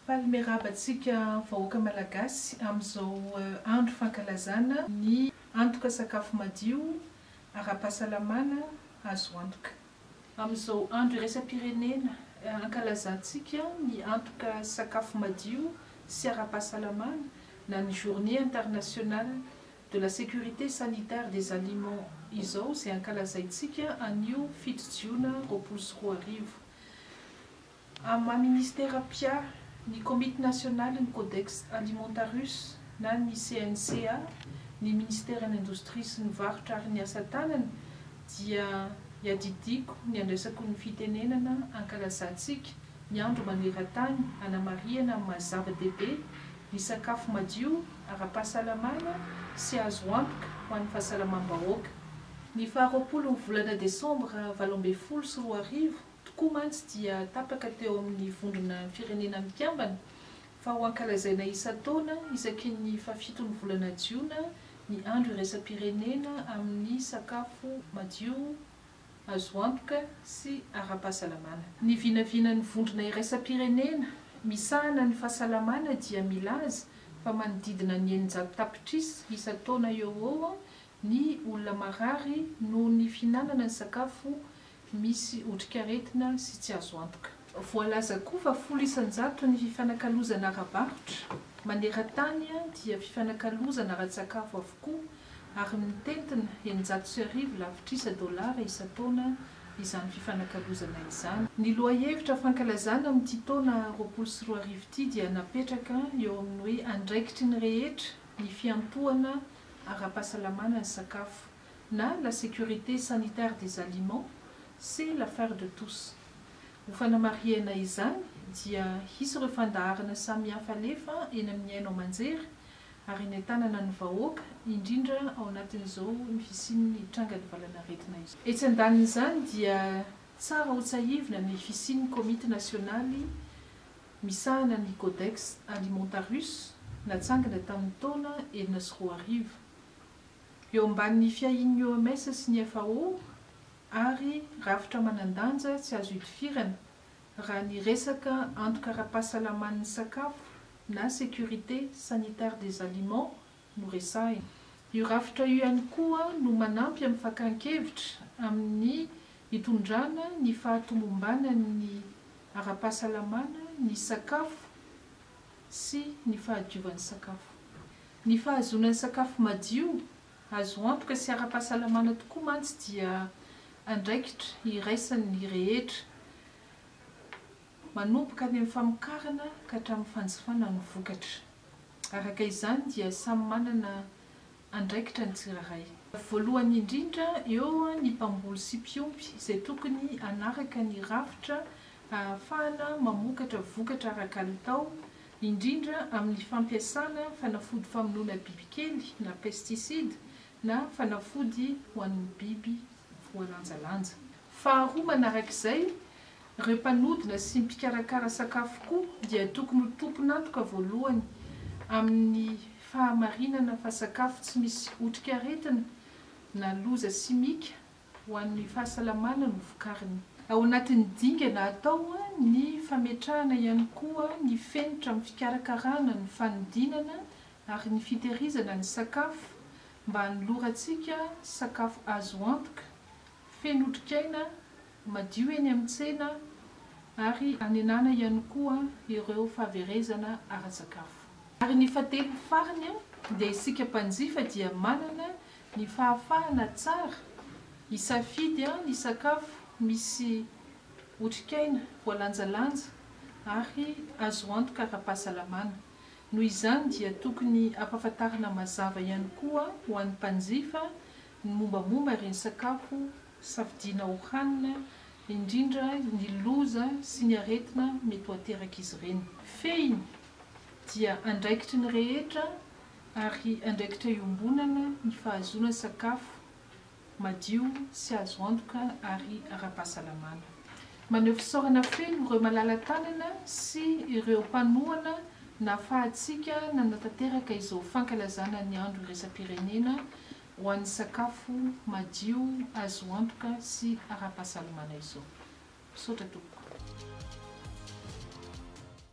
Faly miarahaba antsika vahoaka Malagasy amin'izao andro fankalazana ny antoka sakafo madio ara-pahasalamana azo antoka. Amin'izao andro iraisam-pirenena ankalazantsika ny antoka sakafo madio sy ara-pahasalamana na ny Journée internationale de la sécurité sanitaire des aliments izao izay ankalazaintsika anio fito jiona roapolo sy roa arivo, Amin'ny maha Ministera mpia ny Komity Nasionalin'ny Codex Alimentarius na ny CNCA, ny Ministeran'ny Indostria sy ny Varotra ary ny Asa Tanana dia iadidiako ny andraisako ny fitenenana ankalazantsika ny Andro Manerantany hanamarihana amin'ny maha zava-dehibe ny sakafo madio, ara-pahasalamana sy azo antoka ho an'ny fahasalamam-bahoaka. Ny faha roapolo ny volana desambra valo ambin'ny folo sy roa arivo Tokoa mantsy dia tapaka teo amin'ny Vondrona Firenena Mikambana fa ho ankalazaina isan-taona isaky ny fahafiton'ny volana jiona ny Andro Iraisam-pirenena amin'ny Sakafo Madio, Azo Antoka sy Ara-pahasalamana. Ny vinavinan'ny Vondrona Iraisam-pirenena misahana ny Fahasalamana dia milaza fa manodidina ny eninjato tapitrisa isan-taona eo ho eo Ny olona marary noho ny fihinanana ny sakafo misy otrikaretina sy tsy azo antoka. Voalaza koa fa folo isan-jato ny fifanakalozana ara-barotra maneran-tany dia fifanakalozana ara-tsakafo avokoa ary mitentina eninjato sy arivo lavitrisa dolara isan-taona izany fifanakalozana izany. Ny lohahevitra fankalazana amin'ity taona roapolo sy roa arivo ity dia napetraka eo amin'ny hoe andraikitry ny rehetra ny fiantohana ara-pahasalamana ny sakafo na la sécurité sanitaire des aliments, c'est l'affaire de tous. Ho fanamarihana izany dia hisy ireo fandaharana samihafa alefa eny amin'ny haino aman-jery ary eny an-tanana ny vahoaka indrindra ao anatin'izao ny fisian'ny trangan'ny valanaretina izao. Etsy andanin'izany dia tsara hotsahivina ny fisian'ny komity nasionaly misahana ny Codex Alimentarius natsangana tamin'ny taona enina sy roa arivo. Eo ambanin'ny fiahian'ny OMS sy ny FAO ary rafitra manan-danja tsy azo itifirana raha ny resaka antoka ara-pahasalaman'ny sakafo na sécurité sanitaire des aliments noresahina. Io rafitra io ihany koa no manampy amin'ny fakan-kevitra amin'ny hitondrana ny fahatomombanan'ny ara-pahasalamana ny sakafo sy ny fahadiovan'ny sakafo. Ny fahazoana ny sakafo madio, azo antoka sy ara-pahasalamana tokoa mantsy dia andraikitra iraisan'ny rehetra, manomboka any amin'ny famokarana ka hatramin'ny fanjifana ny vokatra. Araka izany dia samy manana andraikitra ny tsirairay. Voalohany indrindra eo ny mpamboly sy mpiompy izay tokony hanaraka ny rafitra ahafahana mamokatra vokatra ara-kalitao, indrindra amin'ny fampiasana fanafody famonoana bibikely na pesticides na fanafody ho an'ny biby voalanjalanja. Faharoa manarak'izay, ireo mpanodina sy mpikarakara sakafo koa dia tokony ho tompon'antoka voalohany amin'ny fahamarinana fa sakafo tsy misy otrikaretina na loza simika ho an'ny fahasalamana no vokariny. Ao anatin'ny dingana atao ny fametrahana ihany koa ny fenitra amin'ny fikarakarana, ny fanodinana ary ny fitehirizana ny sakafo mba hanolorantsika sakafo azo antoka Feno otrikaina madio eny amin'ny tsena ary anenana ihany koa ireo fahaverezana ara-tsakafo. Ary ny fahatelo farany dia isika mpanjifa dia manana ny fahafahana tsara hisafidy ny sakafo misy otrikaina voalanjalanja ary azo antoka ara-pahasalamana. Noho izany dia tokony ampahafantarina mazava ihany koa ho an'ny mpanjifa ny mombamomba ireny sakafo safidiana ho hanina, indrindra ny loza sy ny aretina mety ho aterak'izy ireny. Fehiny, dia andraikitry ny rehetra ary andraikitra iombonana ny fahazoana sakafo madio sy azo antoka ary ara-pahasalamana. Maneho fisaorana feno ireo malala-tanana sy ireo mpanohana nahafahantsika nanatanteraka izao fankalazana ny andro iraisam-pirenena ho an'ny sakafo madio azo antoka sy ara-pahasalamana izao. Misaotra tompoko.